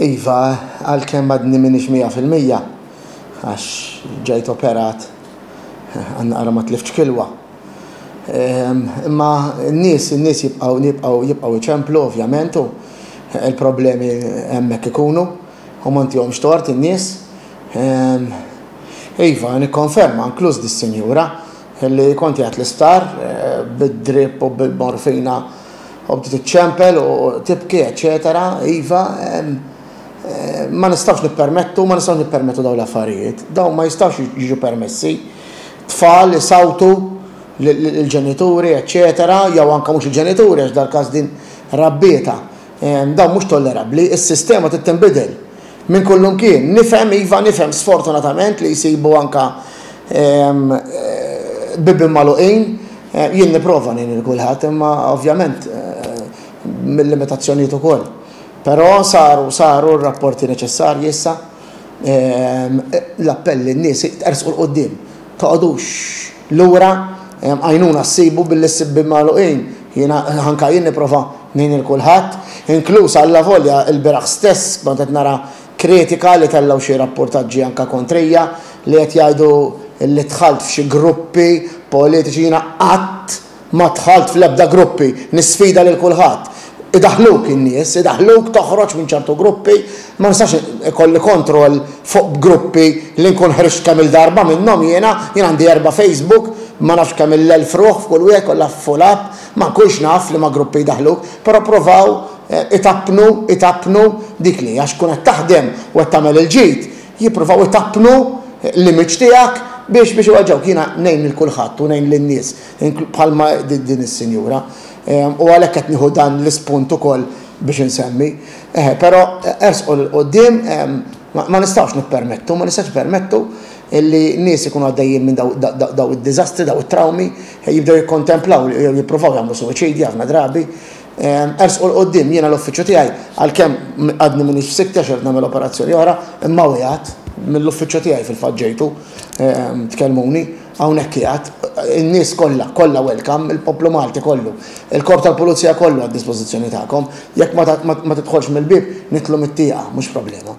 Iva, għalkemm għadni minix 100% għax ġejt operat għanqara ma tliftx kilwa. Ehm, imma n-nies, n-nies jibqaw, jibqaw, jibqaw iċemplu, ovvjament, u il-problemi hemmhekk ikunu, u montihomx tort in-nies. Ehm, iva, nikkonferma, inkluż dis-sinjura, Illi kont jgħid l-isptar, bid-drip u bil-morfina u bdiet iċċempel u tibki eċċetera, iva, ma nistgħux nippermettu, ma nistgħux nippermettu dawn l-affarijiet. Dawn ma jistgħux jiġu permessi. Tfal isawtu lill-ġenituri eċċetera, jew anke mhux il-ġenituri għax dal-każ din rabbietha. Dan mhux tollerabbli. Is-sistema trid tinbidel. Minn kullimkien. Nifhem, iva, nifhem sfortunatament li jsibu anke bibien magħluqin. Jien nipprova ngħin lil kulħadd imma ovvjament mil-limitazzjonijiet ukoll. Però saru, saru r-rapporti neċessarji issa. L-appell lin-nies ersqu 'l quddiem, toqgħodux lura, għajnuna ssibu billi ssib bieb magħluqin. Jiena anke jien nipprova ngħin lil kulħadd, inkluż allavolja ilbieraħ stess kont qed nara kritika li tellgħu xi rappurtaġġi anke kontrija li qed jgħidu li dħalt f'xi gruppi politiċi, jiena qatt Ma dħalt fl-ebda gruppi, nisfida lil kulħadd. Idaħħluk in-nies, idaħħluk toħroġ minn ċertu gruppi, ma nistax ikolli kontroll fuq gruppi li nkun ħriġt kemm-il darba minnhom jiena, jien għandi erba' Facebook, ma nafx kemm-il elf ruħ f'kull wieħed, kollha full app, ma nkunx naf liema gruppi jdaħħluk, però provaw itappnu, itappnu dik li għax tkun qed taħdem u qed tagħmel il-ġid, jippruvaw itappnu l-image tiegħek biex biex iweġġgħuk. Jiena ngħin lil kulħadd u ngħin lin-nies inkl bħalma di din is-sinjura. Ehm, u għalhekk qed nieħu dan l-ispunt ukoll biex insemmi. Eħe, però ersqu l quddiem ehm, ma nistgħux nippermettu, ma nistgħux nippermettu illi nies ikunu għaddejjin minn daw id-diżastri, daw it-trawmi, jibdew jikkontemplaw jew jippruvaw jagħmlu suwiċidja ħafna drabi. Ersqu 'l quddiem, jiena l-uffiċċju tiegħi, għalkemm għadni m'iniex f'sikkti għax irid nagħmel operazzjoni oħra, imma qiegħed, mill-uffiċċju tiegħi fil-fatt ġejtu, tkellmuni, hawnhekk qiegħed, in-nies kollha, kollha welcome, il-poplu Malti kollu, il-Korp tal-Pulizija kollu għad-dispożizzjoni tagħkom, jekk ma tidħolx mill-bieb, nidħlu mit-tieqa, mhux problema.